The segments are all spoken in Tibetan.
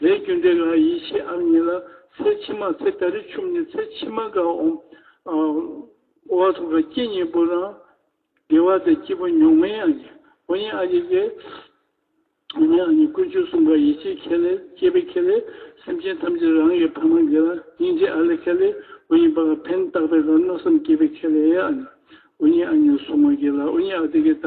ལས་རྒྱུ་འབྲས་ལ་ཡིད་ཆེས་ཨམ་ཉིད་ལ་ཚེ་ཕྱི་མ་ཚེ་ད་རི་ཆུབ་ནས་ཚེ་ཕྱི་མ་འགའ་འོང་བ་ཐུགས་ཀ་སྐྱེ་གཉིས་པོ་རང་དགེ་བ་དང་སྐྱིད་པོ་མྱོང་མིན་ཡང་ཡིན་འོ་ཉེ་ཨ་ཉེ་ཀེ་འོ་ཉེ་ཨ་ཉེ་ཀུན་སྤྱོད་གསུམ་ཀ་ཡིད་ཆེས་ཁེ་ལས་སྐྱེས་པའི་ཁེ་ལས་སེམས་ཅན་ཐམས་ཅད་རང་གི་ཕ་མ་དགེ་ལ་སྙིང་རྗེ་ཨ་ལས་ཁེ་ལས་འོ་ཉེ་པ་ཀ་ཕན་བཏགས་པའི་ལ་མནོ་བསམ་སྐྱེས་པའི་ཁེ་ལས་ཨ་ཉེ་འོ་ཉེ་ཨ་ཉེ་གསུམ་ཀ་དགེ་ལ་འོ་ཉེ་ཨ་དེ་ཀེ་ད།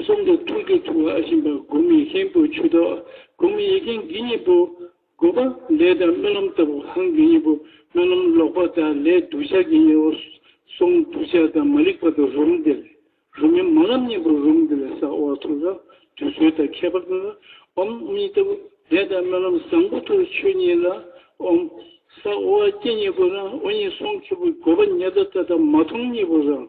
གསུམ་དུ་ཐུགས་རྗེ་ཐུབ་བ་ཤིན་པ་དགུ་མི་ཤིན་པོ་ཆུ་དོག་དགུ་མི་ཡི་གེ་འགི་གཉིས་པོ་དགུ་པ་ལས་དང་སྨོན་ལམ་ལྟ་བུ་གང་གི་གཉིས་པོ་སྨོན་ལམ་ལོག་པ་དག་ལས་གདུལ་བྱ་གི་གཉེར་བ་གསུམ་གདུལ་བྱ་དང་མ་རིག་པ་དང་རུམ་འདི་ལས་རུམ་མི་མ་ལམ་གཉིས་པོ་རུམ་འདི་ལས་ས་འོག་ཐུགས་རབ་དུས་ཚོད་དང་ཁྱད་པར་དུ་འོམ་གཉིས་ལྟ་བུ་ལས་དང་སྨོན་ལམ་བཟང་པོ་ཐུགས་ཆོས་གཉིས་ལ་འོམ། ས་འོག་སྐྱེ་གཉིས་པོ་རང་འོག་གཉིས་སོང་ཁྱི་པོ་དགོད་པ་ཉལ་ད་ལྟ་དང་མ་མཐོང་གཉིས་པོ་རང།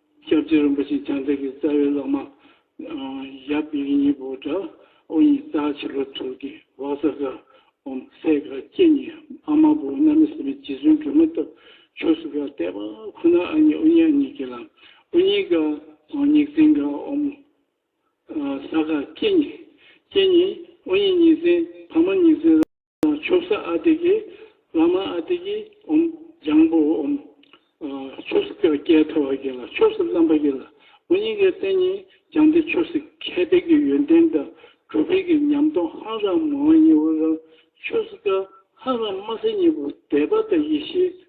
ཞབས་རྗེས་རིན་པོ་ཆེ་བྱང་འདྲེན་གྱི་རྩ་བའི་བླ་མ། ཡབ་གཡས་གཉིས་པོ་དགྲ་ཨོ་ཉི་རྩ་བྱི་ལོ་དྲུག་གི་བག་ས་ཀ་འོམ་སྲས་དགའ་སྐྱེད་གཉིས་ཨ་མ་བུ་རྣམ་མི་སྲིད་པའི་རྗེ་བཙུན་སྒྲོལ་མ་སྟོབས་མཆོག་སུ་ག་ལྟས་པ་ཁོ་ན་ཨ་ཉི་ཨོ་ཉི་ཨ་ཉི་གྱི་ལམ་ཨོ་ཉི་ཀ་ཨོ་ཉི་རྩིང་དགའ་འོམ་ས་ཀ་སྐྱེད་གཉིས་སྐྱེད་གཉིས་ཨོ་ཉི་གཉིས་རྩིང་ཕ་མ་གཉིས་རྩིང། ཆོ་ས་ཨ་ཏི་ཀི། བླ་མ་ཨ་ཏི་ཀི་འོམ། ལྗང་བུ་འོམ། ཆོས་སྲིད་ཀྱི་སྐྱེས་ཐོབ་བ་ཀྱི་ལ་ཆོས་སྲིད་བརླམ་པ་ཀྱི་ལ་འོ་ཉིས་ཀའི་རྟེན་ཉིས་ལྗང་ཏི་ཆོས་སྲིད་ཁྱད་འཕེལ་གྱི་ཡོན་ཏན་དང་གྲུབ་འཕེལ་གྱི་ཉམས་སྟོང་ཧང་རང་མོ་བ་ཉིས་བུ་རང་ཆོས་སྲིད་ཀ་ཧང་རང་མ་སེ་ཉིས་བུ་དད་པ་དང་ཡེ་ཤེས་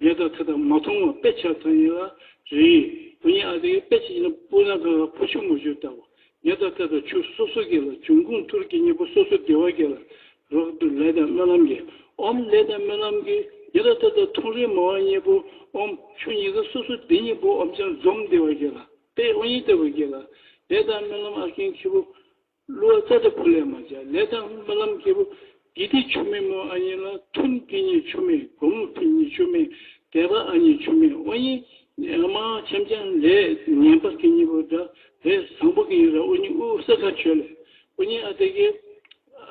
ཉེས་དོགས་ཐད་དང་མ་མཐོང་བ་དཔེ་ཆ་ཐོན་ཡིན་ལ་རེད། བུ་ཉེས་ཨ་དེ་གའི་དཔེ་ཆ་ཡིན་ན་སྤུ་ན་ག་ག་ཕོ་ཆུ་མོ་ཆུ་ལྟ་བུ། ཉེས་དོགས་ཐད་དང་ཆུ་སོ་སོ་གི་ལ་འབྱུང་ཁུངས་ཐུར་གི་གཉིས་པོ་སོ་སོ་སྡེ་བ་གི་ལ་རོགས་ཏུ་ལས་དང་སྨོན་ལམ་གྱི་ཨོམ་ལས་དང་སྨོན་ལམ་གྱི་ཉེས་དོགས་ཐད་དང་ཐུང་རིལ་མ་བ་གཉིས་པོ་ཨོམ་ཆུ་གཉིས་ཀ་སོ་སོ་སྡེ་གཉིས་པོ་ཨོམ་ཆང་འཛོམས་སྡེ་བ་གི་ལ་དཔེ་ཨོ་གཉིས་ལྟ་བུ་གི་ལ་ལས་དང་སྨོན་ལམ་ཨ་ཁེན་ཁི་བུ། གླུ་བ་ཙཀྲ་བྷུ་ལས་མ་བྱ་ལས་དང་སྨོན་ལམ་སྐྱེས་བུ། དགེ་སྡིག་ཆོས་མེད་མོ་ཨ་ཉེ་ལ་ཐུན་དེ་ཉིད་ཆོས་མེད་དགོང་མོ་དེ་ཉིད་ཆོས་མེད་དད་པ་ཨ་ཉེ་ཆོས་མེད་ཨོ་ཉེ། མ་ཆམ་ཆམ་ལས་ངན་པ་དེ་ཉིད་བུ་དགྲ་ལས་བཟང་པོ་གི་ཡིན་ར་ཨོ་ཉེ་ཨུ་ཨུ་ས་ཁ་ཆོས་ལས་ཨོ་ཉེ་ཨ་དེ་ཀའི་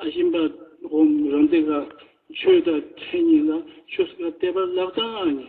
ཨ་ཤིན་པ་ཧོམ་རང་དེ་ཀ་ཆོས་དང་ཕྲད་ཉིད་ལ་ཆོས་ཀ་དད་པ་ལག་དང་ཨ་ཉེ་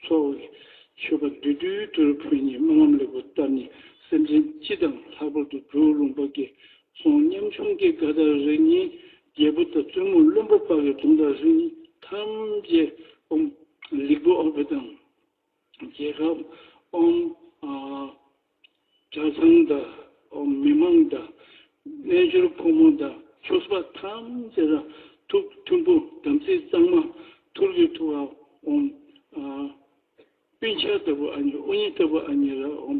འཚོ་བའི་མཆོད་པ་བདུད་འདུལ་དོལ་ཕོ་ཉའི་སྨོན་ལམ་ལེགས་པོ་བཏབ་ནས་སེམས་ཅན་སྤྱི་དང་ལྷག་པར་དུ་བོད་ལུང་པ་དགེ་སོང་ཉམ་ཆུང་སྐྱེ་རྒ་ད་རེ་གཉིས་རྒྱལ་པོ་དང་བཙུན་མོ་བློན་པོ་དཔའ་བོའི་རྫོང་དང་རི་གཉིས་ཐམས་ཅད་དབུམ། ལིག་བུ་ཨོ་བྷེ་དང། རྒྱལ་ཁབ་དབུམ། གྲྭ་ཚང་དང་མི་མང་དང་རྣལ་འབྱོར་ཕོ་མོ་དང་ཆོས་པ་ཐམས་ཅད་རང་ཐུགས་མཐུན་པོ་དམ་ཚིག་གཙང་མ་ཐུར་གྱི་ཐུགས་ཨ་འོམ་ཨ། སྤུན་ཆ་ལྟ་བུ་ཨ་ཉི་ཨོ་ཉི་ལྟ་བུ་ཨ་ཉི་ར་འོམ་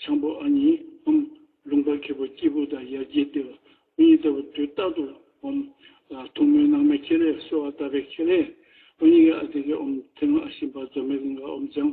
ཆང་པོ་ཨ་ཉི་འོམ། ལུང་པ་ཁེ་པོ་སྐྱིད་པོ་དང་ཡར་རྒྱས་ལྟེ་བ་ཨོ་ཉི་ལྟ་བུ་དུས་རྟག་ཏུ་འོམ། ཐུགས་སྨོན་ནང་མའི་ཁེ་ལས་སོ་ཨ་ལྟ་བའི་ཁེ་ལས་ཨོ་ཉི་ཨ་ཏི་ཀའི་འོམ་ཐེ་ང་ཨ་ཤི་འབར་རྫོགས་མེད་གླིང་ག་འོམ་ལྗང